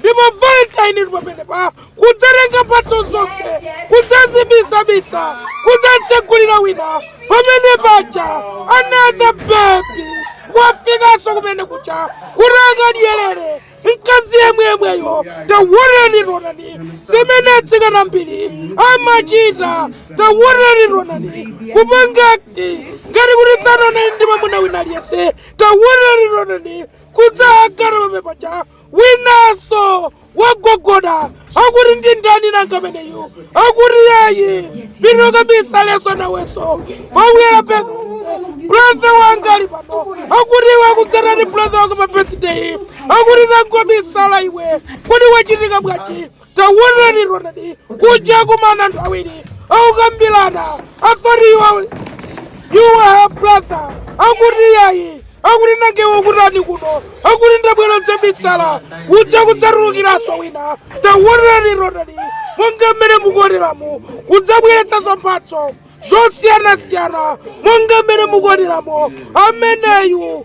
ndipo valentine inu pamenepa kudzatenga mphatso zonse kudzazibisabisa kudzatsegulira wina pamene paja another baby wafikanso kumene kuja kuti akadyerere mkazi yemweyemweyo taonanitaonani zimene atsikana ambiri amachita taonanitaonani kupanga act ngati kuti sanaonane ndi mwamuna wina aliyense taonanitaonani kudzakhala pamene paja Winaso wagogoda akuti ndi ndani nanga ameneyu akuti iyayi pino kabisa leso naweso pobwera pe brother wanga ali pano akuti iwe wakudza ndi brother wanga pa birthday akuti nangobisala iwe kodi wachitika bwanji Taonanitaonani, kuja kumana anthu awiri akukambirana I thought you are her brother akuti yayi akuti nanga iwe ukutani kuno akuti ndabwera dzabisala kuja kudzatulukiranso wina taonanitaonani monga mmene mukuoneramu kudzabweretsa nso mphatso zosiyanasiyana monga mmene mukuoneramu ameneyu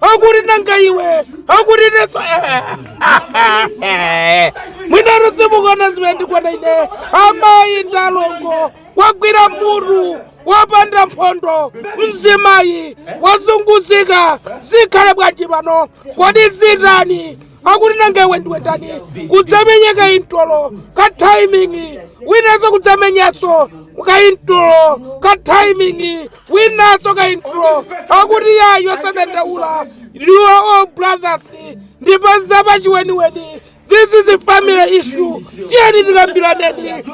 akuti nanga iwe akuti nenso mwina udzimukonda zimene ndikuona ine amayi ndalongo wagwira mutu wapanda mphondo mzimayi wazunguzika zikhale bwanji pano kodi zitani akuti nanga iwe ndiwe ndani kudzamenya kaintolo ka timing winanso kudzamenyanso kaintolo ka timing winanso kaintolo akuti yayi osadandaula you are all brothers ndipo zapachiweniweni this is a family issue tiyeni tikambiraneni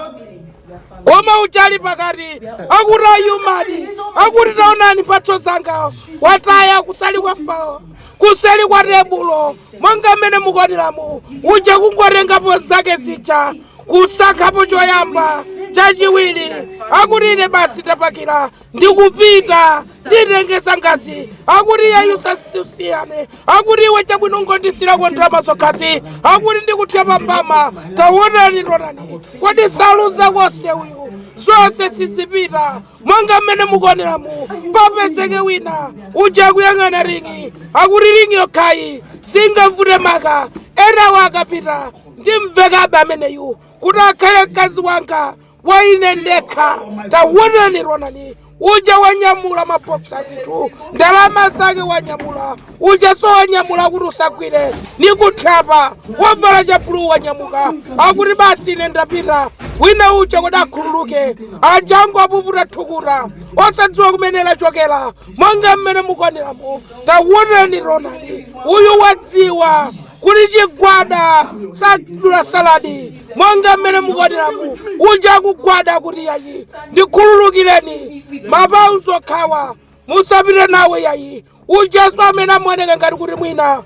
koma uja ali pakati akuti ayi amayi akuti taonani mphatso zanga wataya kuseli kwa fao kuseli kwa tebulo monga mmene mukuoneramu uja kungotengapo zake zija kusankhapo choyamba chachiwiri akuti ine basi ndapakira ndikupita nditenge zangazi akuti iyayi usasiyane akuti iwe chabwino ungondisiyirako ndalama zokhazi akuti ndikuthya mbama taonani taonani kodi saluza konse uyu zonse sizipita monga mmene mukuoneramu papezeke wina uja akuyang'ana ring'i akuti ring'i yokhayi singavute maka enawo akapita ndimvekabe ameneyu kuti akhale mkazi wanga kwa ine ndekha tawonani ronani uja wanyamula mabokisi azinthu ndalama zake wanyamula ujaso wanyamula akuti usagwire nikuthyapa wavala chabuluu wanyamuka akuti basi ine ndapita wina uja kuti akhululuke ajango apuputa thukuta osadziwa kumene lachokera monga mmene mukuoneramu tawonani ronani uyu wadziwa kuti chigwada sadula saladi monga mmene mukuoneramu uja akugwada kuti yayi ndikhululukireni mapauzi okhawa musapite nawo yayi ujaso amene amaoneka ngati kuti mwina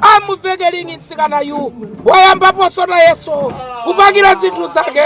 amuvekeringi mtsikanayu wayambaponso nayeso kupakira zinthu zake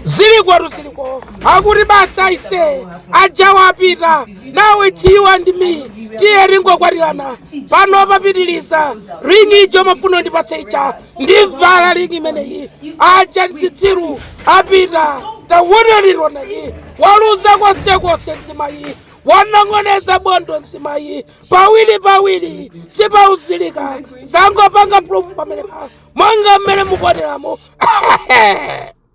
zilikotu ziliko akuti basi aise ajawa apita now it's you and me tiye tingokwatirana pano papitiliza ringi ija umafuna undipatse ija ndivala ringi imeneyi aja nzitsiru apita tawonani ronani waluza konsekonse mzimayi wanong'oneza bondo mzimayi pawiri pawiri sipauzilika zangopanga proof pamenepa monga mmene mukuoneramu